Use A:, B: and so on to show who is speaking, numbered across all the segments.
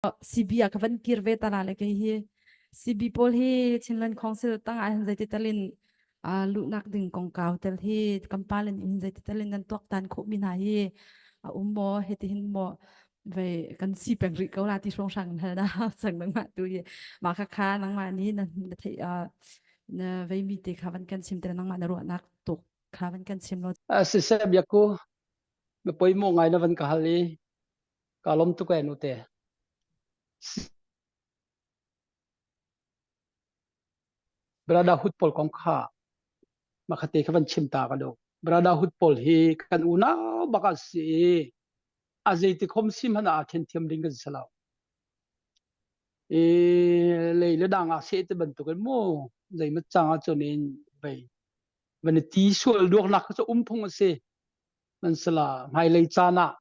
A: CB ah ka van kir ve ta la le kei hi CB pawl hi Chinland Council ta ah hin zeiti talin uh, luhnak ding kongkau tel hi kampal in in zeiti talin nan tuak tan khawh mi hna hi a um maw heti hin maw vei kan si peng rih ko la ti song sang hal na sang nang ma tu hi ma kha kha nang ma ni na na thei uh, na vei mi te kha van kan sim tel nang ma na ru nak to kha van kan sim lo a sisem yaku
B: me poimo ngai na van ka hal i Kaa lawm tuk ee nute. Brotherhood pawl kong kha makate kha van chim ta ka do. Brotherhood pawl hi kan unau bak a si i a zeiti khom sim hana ah khen thiam ding kan si lo. E lei le dang ah se te bantuk in mu zeimat chang a chun in vei. Van i ti sual duak nak kha um phung a si. Man sala hmai lei caan ah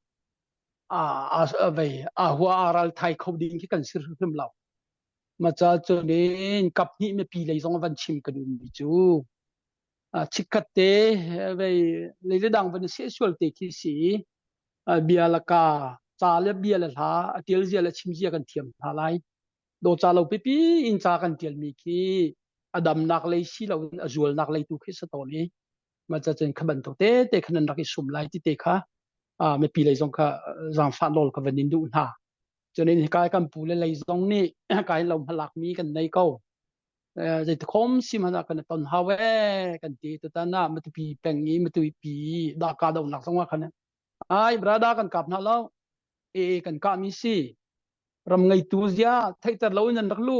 B: aa hua aa ralthai kho ding khi kan si hrimhrim lo. Maca cun in kap hnih me pi lei zong van chim kan um mi cu. Chikhat te vei leile dang van se sual te khi si bia la ka ca le bia le hla a tial zia le chim zia kan thiam hna lai. Do ca lo pipi in ca kan tial mi khi adamnak lei si lo in a zualnak lei tu khi sa to ni mah cacun kha bantuk tete khan an rak i sum lai ti te kha uh, mipi lei zong kha zaangfah nawl ka van in duh hna cunin kai kan pu le lei zong nih kai lo hmalak mi kan nei ko zei te khom sim hana kan ton hawe kan ti tu tana matupi peng i matupi da ka do nak zong wa khan ai brada kan kap na lo e kan ka mi si ram ngai tu zia theiter lo nan rak lu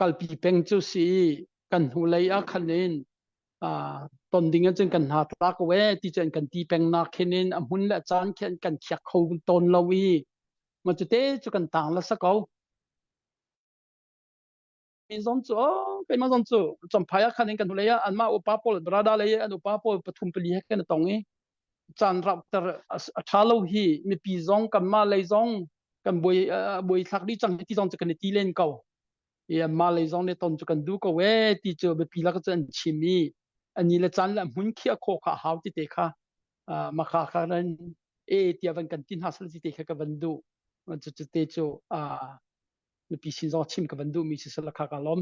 B: kalpi peng cu si kan hnu lei ah khan in ton ding in cun kan hna tlak we ti cun kan ti peng nak khin in a hmun le caan khin kan khiak kho tawn lo i ma cu te cu kan tang la sa ko mi zom cu o pe ma zom cu chomphai ah khan in kan hnulei ah an ma upa paul brada lei an upa paul pathum pali he kan tong i caan raukter a ṭha lo hi mipi zong kanmah lei zong kan buai buai thlak dih cang ti zong cu kan i ti len ko i mah lei zong nih ton cu kan duh ko ee ti cu biapi lak cu an chim i ani le caan le hmun khiah khawh kha hau ti te kha ma kha kha ran e tia van kan ti hna sal ti te kha ka van duh cucu te cu mipi sin zong chim ka van duh mi si sala kha ka lawm